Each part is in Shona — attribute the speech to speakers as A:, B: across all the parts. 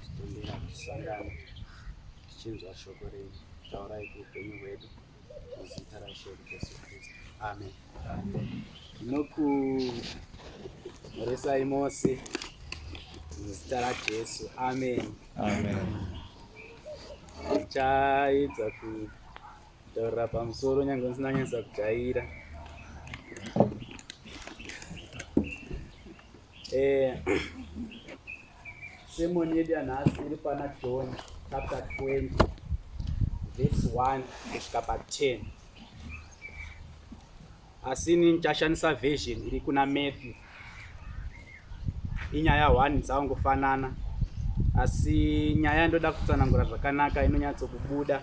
A: Titombera kusangana tichinzwa shoko renyu taurai kuupenyu hwedu muzita raishe Jesu Kristu. Amen. Tinokuresai mose muzita raJesu. Amen. Amen. Ndichaedza kutaurira pamusoro nyange ndisina nyanyisa kujaira. Eh, sermon yedu yanhasi iri pana john chapter 20 verse 1 kusvika pa 10 asi ini ndichashandisa version iri kuna matthew inyaya 1 dzaungofanana asi nyaya yandoda kutsanangura zvakanaka inonyatsokubuda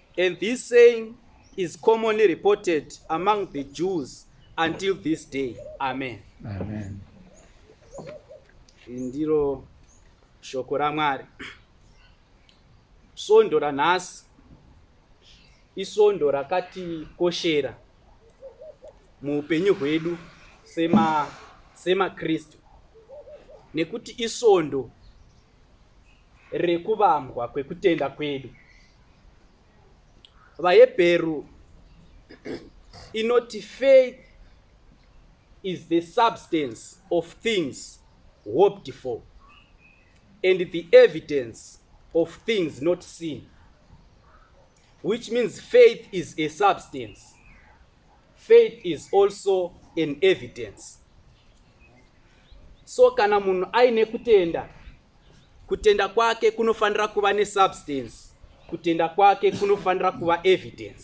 A: And this saying is commonly reported among the Jews until this day. Amen.
B: Amen.
A: Ndiro shoko raMwari. Svondo ranhasi isondo rakatikoshera muupenyu hwedu sema semaKristu nekuti isondo rekuvambwa kwekutenda kwedu. VaHebheru inoti faith is the substance of things hoped for and the evidence of things not seen which means faith is a substance Faith is also an evidence. So kana munhu aine kutenda, kutenda kwake kunofanira kuva nesubstance, kutenda kwake kunofanira kuva evidence.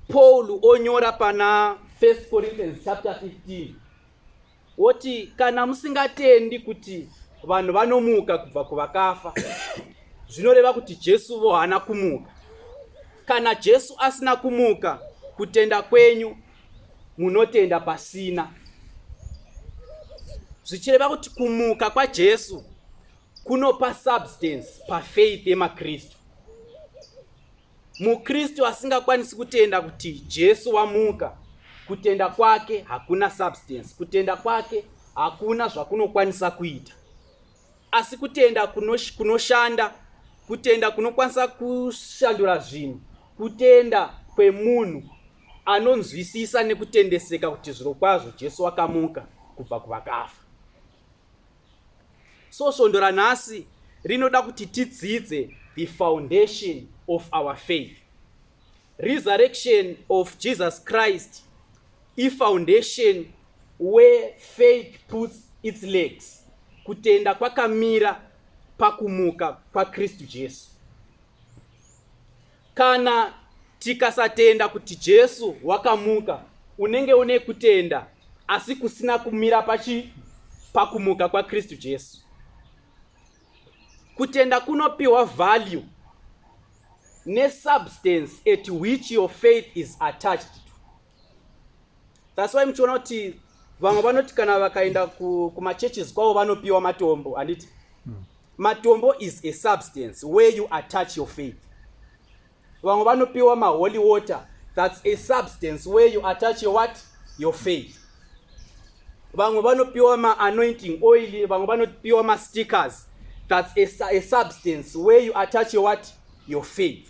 A: Paul onyora pana 1 Corinthians chapter 15 woti kana musingatendi kuti vanhu vanomuka kubva kuvakafa zvinoreva kuti jesu vo haana kumuka kana jesu asina kumuka kutenda kwenyu munotenda pasina zvichireva kuti kumuka kwajesu kunopa substance pafaith yemakristu MuKristu asingakwanisi kutenda kuti Jesu wamuka, kutenda kwake hakuna substance, kutenda kwake hakuna zvakunokwanisa kuita. Asi kutenda kunoshanda, kutenda kunokwanisa kushandura zvinhu, kutenda kwemunhu anonzwisisa nekutendeseka kuti zvirokwazvo Jesu wakamuka kubva kuvakafa. so svondo ranhasi rinoda kuti tidzidze the foundation of our faith resurrection of jesus christ ifoundation where faith puts its legs kutenda kwakamira pakumuka kwakristu jesu Kana tikasatenda kuti Jesu wakamuka, unenge une kutenda asi kusina kumira pachi pakumuka kwaKristu Jesu. Kutenda kunopiwa value nesubstance at which your faith is attached to. thats why muchiona kuti vamwe vanoti kana vakaenda kumachurches kwavo vanopiwa matombo handiti hmm. matombo is a substance where you attach your faith vamwe vanopiwa maholy water thats a substance where you attach your what your faith vamwe vanopiwa maanointing oil vamwe vanopiwa mastickers thats a, a substance where you attach your what your faith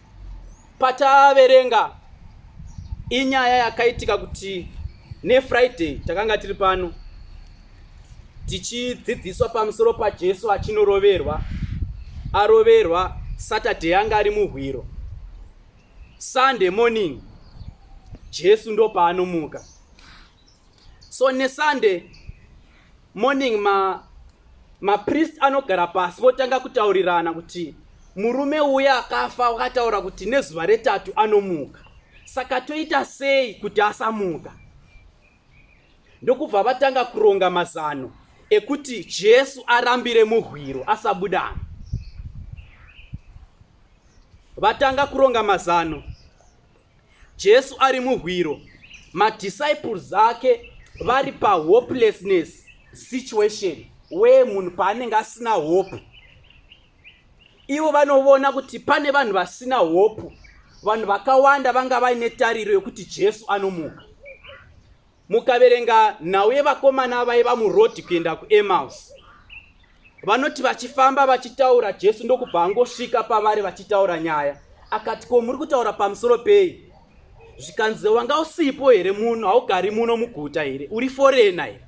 A: Pataaverenga inyaya yakaitika kuti nefriday takanga tiri pano tichidzidziswa pamusoro pajesu achinoroverwa aroverwa saturday yanga ari muhwiro sunday morning jesu ndopaanomuka so nesunday morning ma mapriest anogara pasi votanga kutaurirana kuti murume uya akafa wakataura kuti nezuva retatu anomuka saka toita sei kuti asamuka ndokubva vatanga kuronga mazano ekuti jesu arambire muhwiro asabudana vatanga kuronga mazano Jesu ari muhwiro, madisciples ake vari pahopelessness situation where munhu paanenge asina hope. Ivo vanovona kuti pane vanhu vasina hope, vanhu vakawanda vanga vaine tariro yokuti Jesu anomuka. Mukaverenga nhau yevakomana vaiva murodhi kuenda kuEmaus, vanoti vachifamba vachitaura, Jesu ndokubva angosvika pavari vachitaura nyaya. Akati, ko muri kutaura pamusoro pei? Zvikanzi, wanga usipo here muno? Haugari muno muguta here? Uri forena here?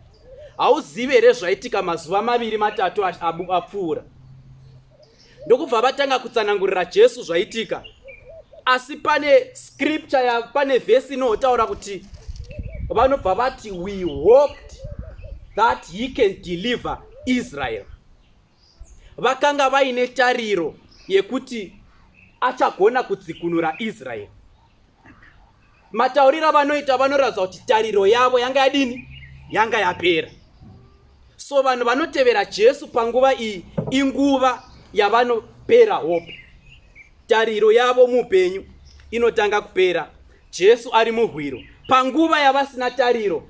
A: Hauzivi here zvaitika mazuva maviri matatu apfuura? ndokubva vatanga kutsanangurira jesu zvaitika asi pane scripture ya pane vhesi inotaura kuti vanobva vati we hoped that he can deliver israel vakanga vaine tariro yekuti achagona kudzikunura israeri matauriro avanoita vanoratidza kuti tariro yavo yanga yadini yanga yapera so vanhu vanotevera jesu panguva iyi inguva yavanopera hope tariro yavo muupenyu inotanga kupera jesu ari muhwiro panguva yavasina tariro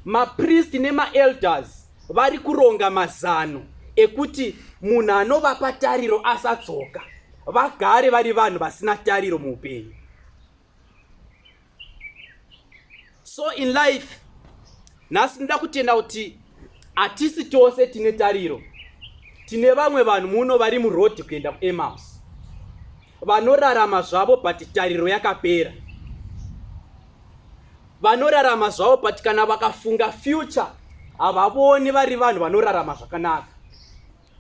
A: mapristi nemaelders vari kuronga mazano ekuti munhu anovapa tariro asadzoka vagare vari vanhu vasina tariro muupenyu so in life nhasi ndinoda kutenda kuti hatisi tose tine tariro tine vamwe vanhu muno vari murodhi kuenda kuemaus vanorarama zvavo but tariro yakapera vanorarama zvavo but kana vakafunga future havavoni vari vanhu vanorarama zvakanaka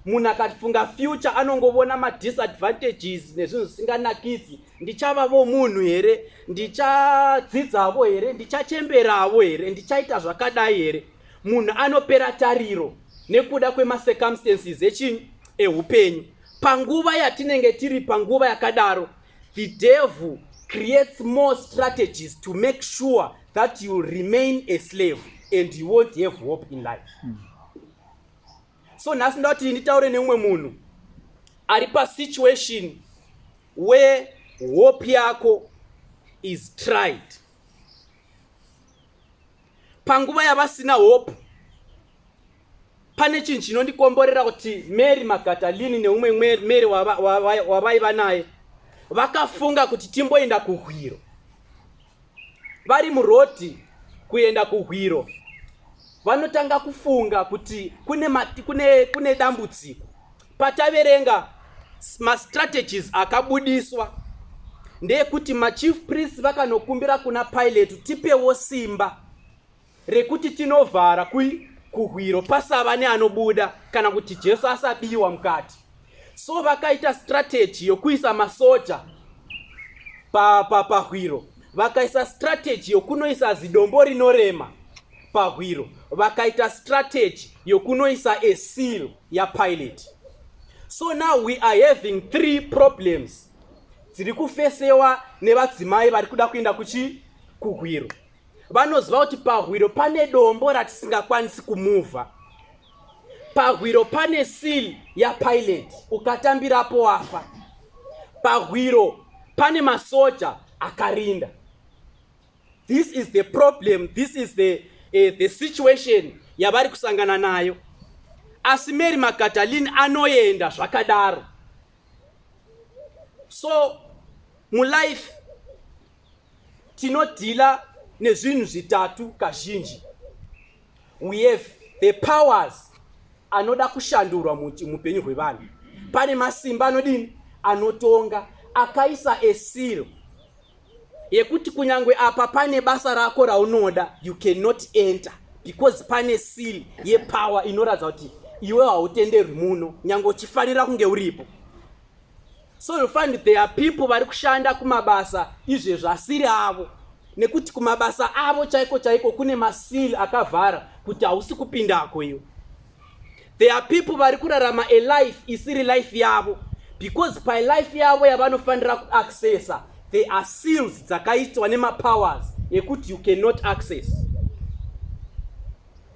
A: munhu akafunga future anongovona madisadvantages nezvinhu zvisinganakidzi ndichavavo munhu here ndichadzidzavo here ndichachemberavo here ndichaita zvakadai here munhu anopera tariro nekuda kwemasecumstances echinhu eupenyu panguva yatinenge tiri panguva yakadaro the devil creates more strategies to make sure that you remain a slave and you won't have hope in life mm. so nhasi ndoda kuti nditaure neumwe munhu ari pasituation where hope yako is tried panguva yavasina hope pane chinhu chinondikomborera kuti mary magatalini neumwe mary wavaiva naye vakafunga kuti timboenda kuhwiro vari murodhi kuenda kuhwiro vanotanga kufunga kuti kune, mati, kune, kune dambudziko pataverenga mastrategies akabudiswa ndeyekuti machief priest vakanokumbira kuna pilate tipewo simba rekuti tinovhara kui kuhwiro pasava neanobuda kana kuti jesu asabiwa mukati so vakaita strategy yokuisa masoja pahwiro pa, pa vakaisa strategy yokunoisa zidombo rinorema pahwiro vakaita strategy yokunoisa a seal yapilot so now we are having three problems dziri kufesewa nevadzimai vari kuda kuenda kuchi kuhwiro vanoziva kuti pahwiro pane dombo ratisingakwanisi kumuvha pahwiro pane seal yapilot ukatambirapo wafa pahwiro pane masoja akarinda this is the problem this is the, uh, the situation yavari kusangana nayo asi mary magadalin anoenda zvakadaro so mulife tinodhila nezvinhu zvitatu kazhinji we have the powers anoda kushandurwa muupenyu hwevanhu pane masimba anodini anotonga akaisa esiro yekuti kunyange apa pane basa rako raunoda you cannot enter because pane seal yepower inoratidza kuti iwe hautenderwi muno nyange uchifanira kunge uripo so you find there are people vari kushanda kumabasa izvezvi asiri avo nekuti kumabasa avo chaiko chaiko kune masili akavhara kuti hausi kupindako iwe there are people vari kurarama a life isiri life yavo because palife yavo yavanofanira kuaccessa there are seals dzakaitwa nemapowers ekuti you cannot access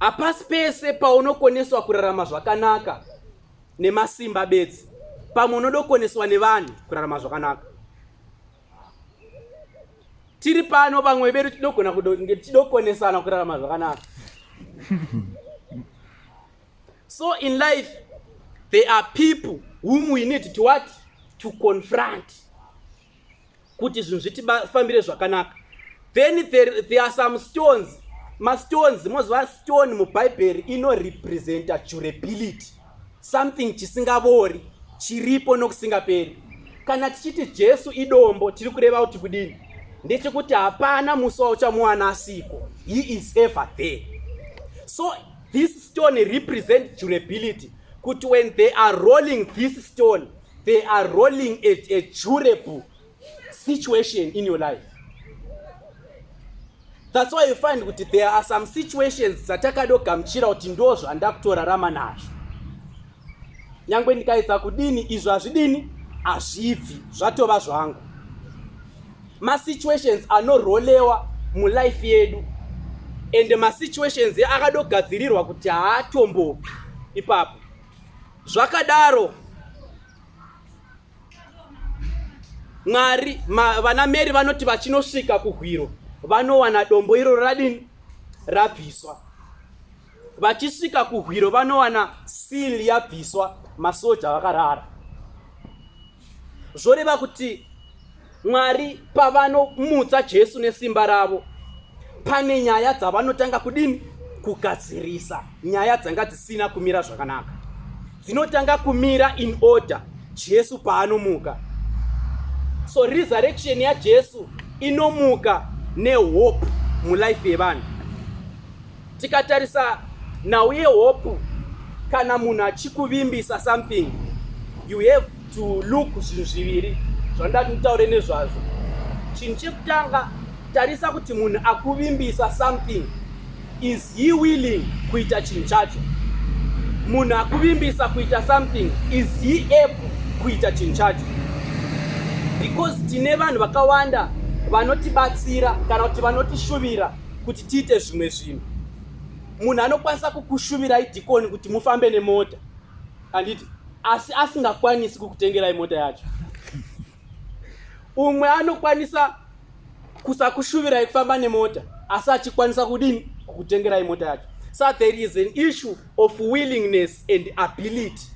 A: Hapasi pese paunokoneswa kurarama zvakanaka nemasimba bedzi, pamwe unodokoneswa nevanhu kurarama zvakanaka. Tiri pano vamwe vedu tinogona tidokonesana kurarama zvakanaka. So in life there are people whom we need to what to confront. kuti zvinhu zvitifambire zvakanaka then there, there are some stones mastones moziva stone mubhaibheri inorepresenta durability something chisingavori chiripo nokusingaperi kana tichiti jesu idombo tiri kureva kuti kudini ndechekuti hapana musi wauchamuwana asiko he is ever there so this stone represent durability kuti when they are rolling this stone they are rolling a, a durable situation in your life that's why you find kuti there are some situations dzatakadogamuchira kuti ndo zvandakutorarama nazvo nyange ndikaedza kudini izvo hazvidini hazvibvi zvatova zvangu masituations anorolewa mulife yedu ende masituations akadogadzirirwa kuti haatombobvi ipapo Zvakadaro Mwari ma, vana Mary vanoti vachinosvika kuhwiro vanowana dombo iro radini rabviswa. Vachisvika kuhwiro vanowana seal yabviswa masoja vakarara. zvoreva kuti mwari pavanomutsa jesu nesimba ravo pane nyaya dzavanotanga kudini kugadzirisa nyaya dzanga dzisina kumira zvakanaka dzinotanga kumira in order jesu paanomuka so resurrection yajesu inomuka nehope mulife yevanhu Tikatarisa nhau yehope kana munhu achikuvimbisa something you have to look zvinhu zviviri zvandaa kutaure nezvazvo chinhu chekutanga tarisa kuti munhu akuvimbisa something is he willing kuita chinhu chacho munhu akuvimbisa kuita something is he able kuita chinhu chacho because tine vanhu vakawanda vanotibatsira kana kuti vanotishuvira kuti tiite zvimwe zvinhu munhu anokwanisa kukushuvirai dhikoni kuti mufambe nemota handiti asi asingakwanisi kukutengerai mota yacho umwe anokwanisa kusakushuvirai kufamba nemota asi achikwanisa kudini kukutengerai mota yacho so there is an issue of willingness and ability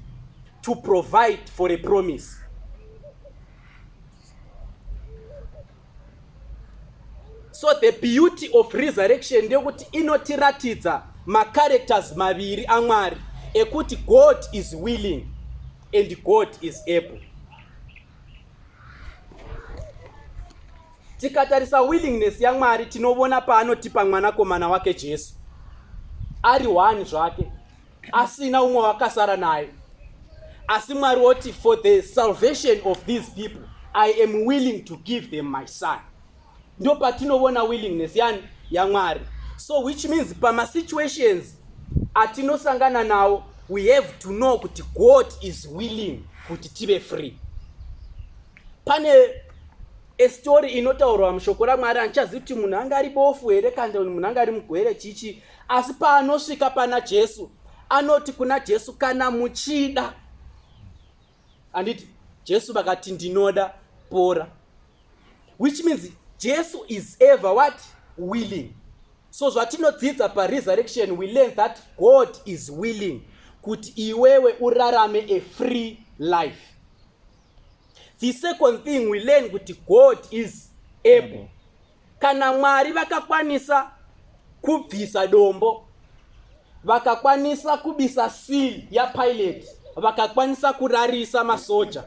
A: to provide for a promise so the beauty of resurrection ndeyekuti inotiratidza macharacters maviri amwari ekuti god is willing and god is able tikatarisa willingness yamwari tinovona paanotipa mwanakomana wake jesu ari one zvake asina umwe wakasara naye asi mwari woti for the salvation of these people i am willing to give them my son ndo patinovona willingness yani yamwari so which means pamasituations atinosangana nawo we have to know kuti god is willing kuti tive free pane estori inotaurwa mushoko ramwari handichazivi kuti munhu anga ari bofu here kandoni munhu anga ari mugwere chichi asi paanosvika pana jesu anoti kuna jesu kana muchida anditi jesu vakati ndinoda pora which means jesu is ever what willing so zvatinodzidza paresurrection we learn that god is willing kuti iwewe urarame a free life the second thing we learn kuti god is able Kana Mwari vakakwanisa kubvisa dombo, vakakwanisa kubisa seal yaPilate, vakakwanisa kurarisa masoja,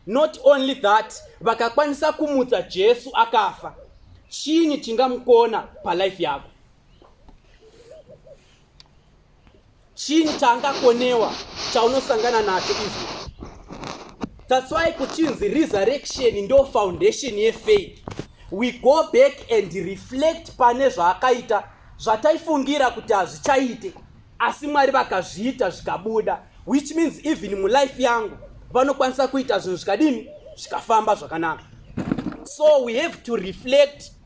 A: not only that, vakakwanisa kumutsa Jesu akafa, chinyi chingamukona palife yako? chinyi chaangakonewa chaunosangana nacho izvi that's why kuchinzi resurrection ndo foundation yefaith we go back and reflect pane zvaakaita zvataifungira kuti hazvichaite asi mwari vakazviita zvikabuda which means even mulife yangu vanokwanisa kuita zvinhu zvikadini zvikafamba zvakanaka so we have to reflect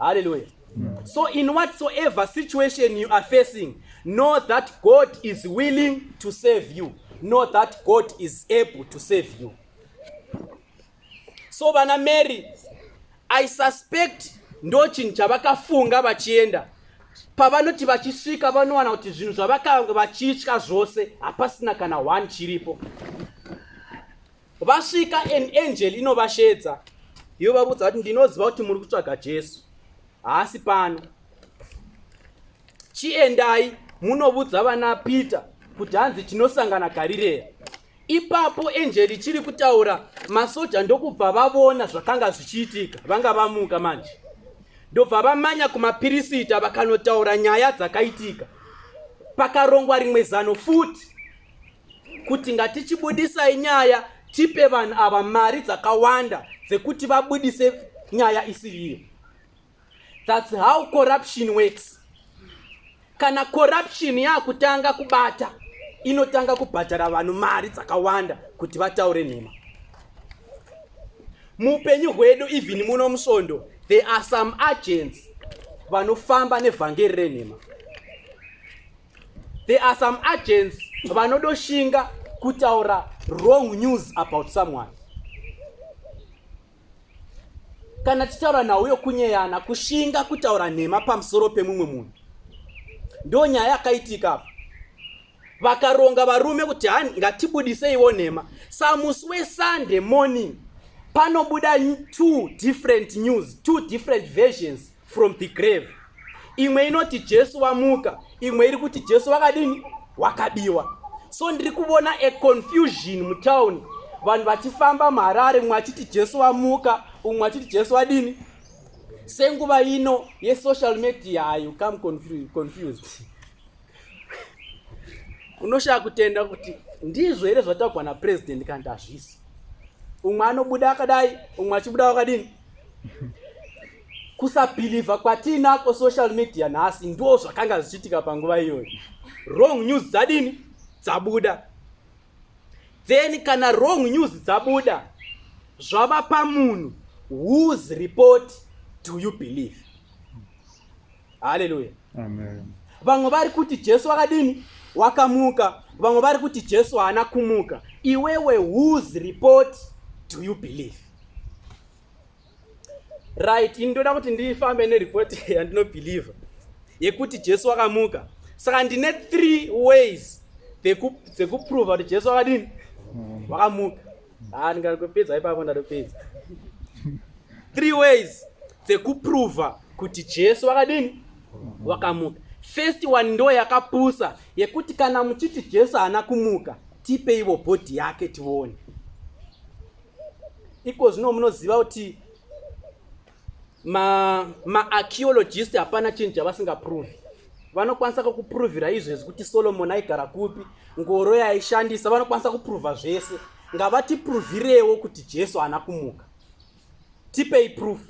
A: Hallelujah. Mm. So in whatsoever situation you are facing, know that God is willing to save you. Know that God is able to save you. So vana Mary, I suspect ndochinhu chavakafunga vachienda pavanoti vachisvika vanowana kuti zvinhu zvavakanga vachitya zvose hapasina kana one chiripo vasvika an angel inovashedza yovavudza kuti ndinoziva kuti muri kutsvaga jesu haasi pano chiendai munovudza vana peter kuti hanzi tinosangana garireya ipapo enjeri chiri kutaura masoja ndokubva vavona zvakanga zvichiitika vanga vamuka manje ndobva vamanya kumapirisita vakanotaura nyaya dzakaitika pakarongwa rimwe zano futi kuti ngatichibudisai nyaya tipe vanhu ava mari dzakawanda dzekuti vabudise nyaya isiri iyo thats how corruption works kana corruption yakutanga kubata inotanga kubhadhara vanhu mari dzakawanda kuti vataure nhema muupenyu hwedu even muno musvondo there are some agents vanofamba nevhangeri renhema there are some agents vanodoshinga kutaura wrong news about someone kana tichitaura nhau yokunyeyana kushinga kutaura nhema pamusoro pemumwe munhu ndo nyaya yakaitika apa vakaronga varume kuti hani ngatibudiseiwo nhema samusi wesunday morning panobuda two different news two different versions from the grave imwe inoti jesu wamuka imwe iri kuti jesu wakadini wakabiwa so ndiri kuvona a confusion mutown vanhu vachifamba muharare mumwe achiti jesu wamuka umwe achiti jesu wadini senguva ino yesocial media ayo come confused unoshaya kutenda kuti ndizvo here zvataugwa napresident kandi hazvisi umwe anobuda akadai umwe achibuda wakadini kusabhilivha kwatiinako social media nhasi ndo zvakanga zvichiitika panguva iyoyo wrong news dzadini dzabuda then kana wrong news dzabuda zvava pamunhu whose report do you believe haleluya vamwe
B: vari kuti
A: jesu wakadini wakamuka vamwe vari kuti jesu haana kumuka iwewe whose report do you believe right ini ndoda kuti ndifambe nereport yandinobhilivha yekuti jesu wakamuka saka ndine three ways dzekuprova kuti jesu wakadini wakamuka haa ndingatopedza ipapo ndatopedza three ways dzekuprova kuti jesu wakadini wakamuka first one ndo yakapusa yekuti kana muchiti jesu haana kumuka tipeivo bhodhi yake tione iko zvino munoziva kuti maarcheologist ma hapana chinhu chavasingaprovi vanokwanisa kakuprovira izvezvi kuti solomoni aigara kupi ngoro yaishandisa vanokwanisa kuprova zvese ngavatiprovirewo kuti jesu haana kumuka tipei proof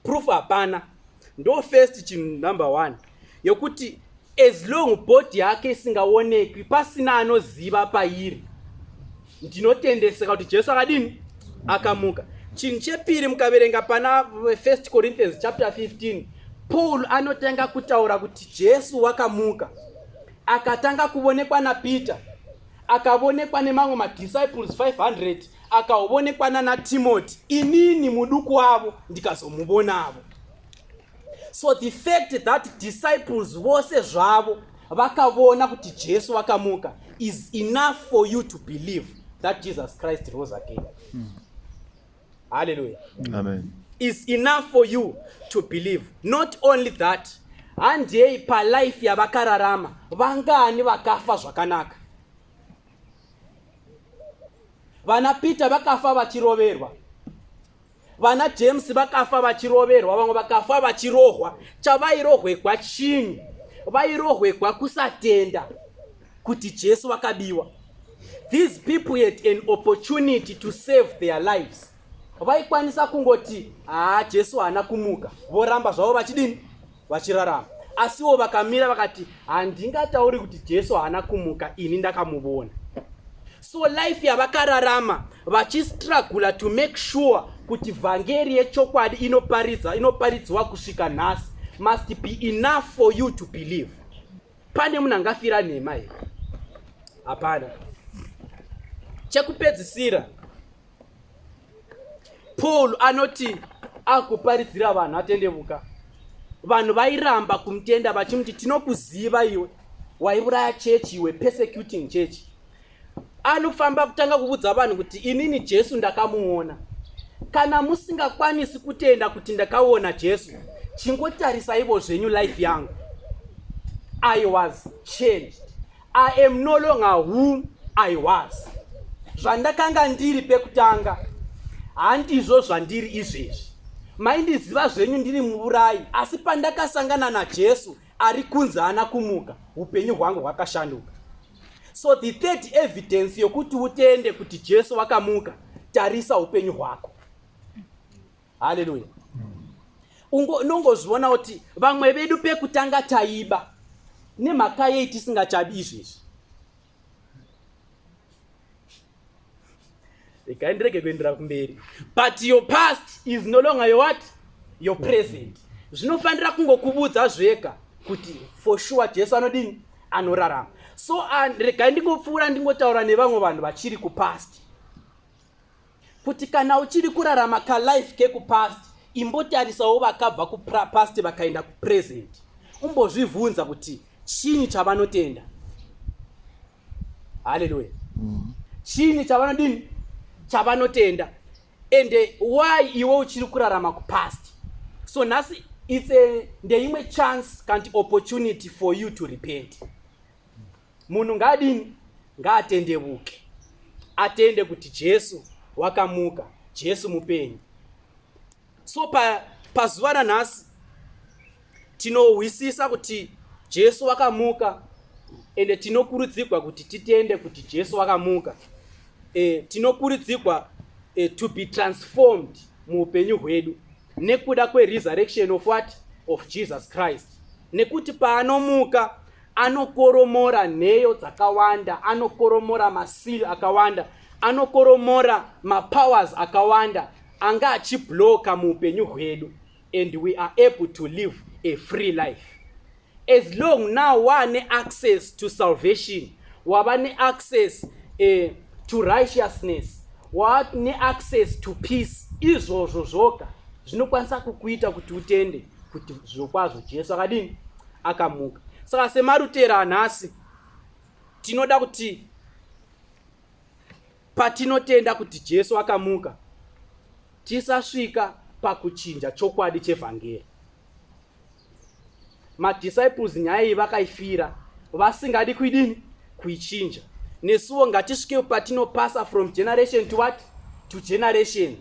A: proof hapana ndo first chinhu number one yokuti as long body yake isingaonekwi pasina anoziva pairi ndinotendeseka kuti jesu akadini akamuka chinhu chepiri mukaverenga pana first corinthians chapter 15 paul anotanga kutaura kuti jesu wakamuka akatanga kuvonekwa napeter akavonekwa nemamwe madisciples 500 akaovonekwa nana timoti inini muduku wavo ndikazomuvonavo so the fact that disciples vose zvavo vakavona kuti jesu vakamuka is enough for you to believe that jesus christ rose again mm. halleluya amen is
B: enough
A: for you to believe not only that handei palife yavakararama vangani vakafa zvakanaka vana peter vakafa vachiroverwa vana james vakafa vachiroverwa vamwe vakafa vachirohwa chavairohwegwa chinyi vairohwegwa kusatenda kuti jesu vakabiwa these people had an opportunity to save their lives vaikwanisa kungoti haa jesu haana kumuka voramba zvavo vachidini vachirarama asiwo vakamira vakati handingatauri kuti jesu haana kumuka ini ndakamuvona so life yavakararama vachistragula to make sure kuti vhangeri yechokwadi inoparidza inoparidzwa kusvika nhasi must be enough for you to believe pane munhu angafira nhema here hapana chekupedzisira paul anoti akuparidzira vanhu atendevuka vanhu vairamba kumutenda vachimuti tinokuziva iwe waiuraya chechi iwe persecuting chechi anofamba kutanga kuvudza vanhu kuti inini jesu ndakamuona kana musingakwanisi kutenda kuti ndakaona jesu chingotarisaivo zvenyu life yangu i was changed I am no longer whom I was. Zvandakanga ndiri pekutanga handizvo zvandiri izvezvi. Maindiziva zvenyu ndiri muurayi, asi pandakasangana naJesu ari kunzi haana kumuka, upenyu hwangu hwakashanduka. So the third evidence yokuti utende kuti Jesu wakamuka, tarisa upenyu hwako. haleluya unongozviona kuti vamwe vedu pekutanga taiba nemhaka yei tisingachabi izvezvi regai ndirege kuendera kumberi but your past is no longer your what your present zvinofanira kungokuvudza zvega kuti for sure jesu anodini anorarama so ah, regai ndingopfuura ndingotaura nevamwe vanhu vachiri kupast kuti kana uchiri kurarama kalife kekupast imbotarisawo vakabva kupast vakaenda kupresent umbozvivhunza kuti chinyi chavanotenda haleluya mm. chinyi chavanodini chavanotenda and why iwe uchiri kurarama kupast so nhasi its ndeimwe chance kanti opportunity for you to repent Munhu ngaadini? Ngaatendevuke, atende kuti Jesu wakamuka, Jesu mupenyu. So pa pazuva ranhasi tinohwisisa kuti Jesu wakamuka ende tinokurudzirwa kuti titende kuti Jesu wakamuka. E, tinokurudzirwa e, to be transformed muupenyu hwedu nekuda kweresurrection of what of jesus christ nekuti paanomuka anokoromora nheyo dzakawanda anokoromora masiri akawanda anokoromora mapowers akawanda anga achibloka muupenyu hwedu and we are able to live a free life As long now waane access to salvation, wava ne access eh, to righteousness, waane access to peace, izvozvo zvoga zvinokwanisa kukuita kuti utende kuti zvirokwazvo Jesu akadini? Akamuka. Saka semarutera nhasi tinoda kuti patinotenda kuti Jesu akamuka tisasvika pakuchinja chokwadi chevhangeri. madisciples nyaya iyi vakaifira vasingadi kuidini kuichinja nesuwo ngatisvike patinopasa from generation to what to generation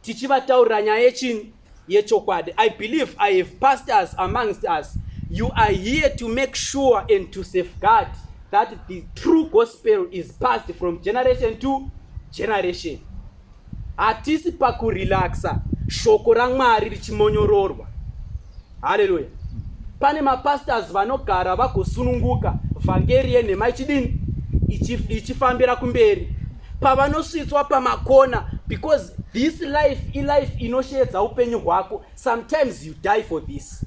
A: tichivataurira nyaya yechini yechokwadi i believe i have pastors amongst us you are here to make sure and to safeguard that the true gospel is passed from generation to generation hatisi pakurelaxa shoko ramwari richimonyororwa haleluya pane mapastors vanogara vagosununguka vhangeri yenhema ichidini ichifambira kumberi pavanosvitswa pamakona because this life ilife inosheedza upenyu hwako sometimes you die for this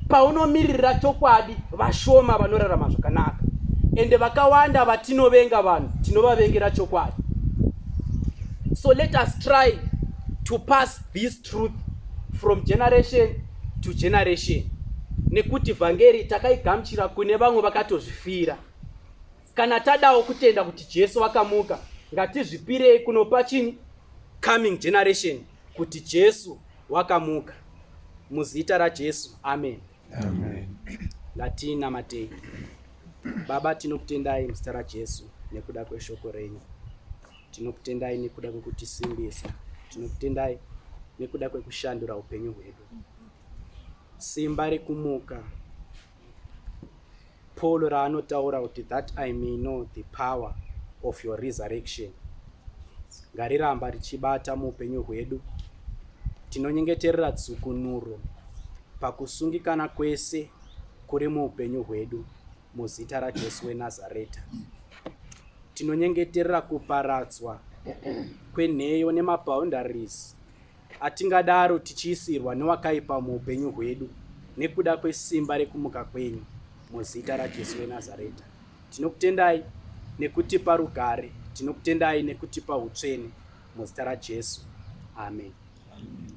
A: paunomiririra chokwadi vashoma vanorarama zvakanaka ende vakawanda vatinovenga vanhu tinovavengera chokwadi so let us try to pass this truth from generation to generation nekuti vhangeri takaigamuchira kune vamwe vakatozvifira kana tadawo kutenda kuti jesu vakamuka ngatizvipirei kunopa chini coming generation kuti jesu wakamuka muzita rajesu amen, amen.
B: latina
A: matei baba tinokutendai muzita rajesu nekuda kweshoko renyu tinokutendai nekuda kwekutisimbisa tinokutendai nekuda kwekushandura upenyu hwedu simba rekumuka Paul raanotaura kuti that I may know the power of your resurrection ngariramba richibata muupenyu hwedu. Tinonyengeterera dzukunuro pakusungikana kwese kuri muupenyu hwedu muzita raJesu weNazareta. Tinonyengeterera kuparadzwa kwenheyo nemabhoundaries Hatingadaro tichiisirwa newakaipa muupenyu hwedu nekuda kwesimba rekumuka kwenyu muzita raJesu weNazareta. Tinokutendai nekutipa rugare, tinokutendai nekutipa utsvene muzita raJesu. Amen. Amen.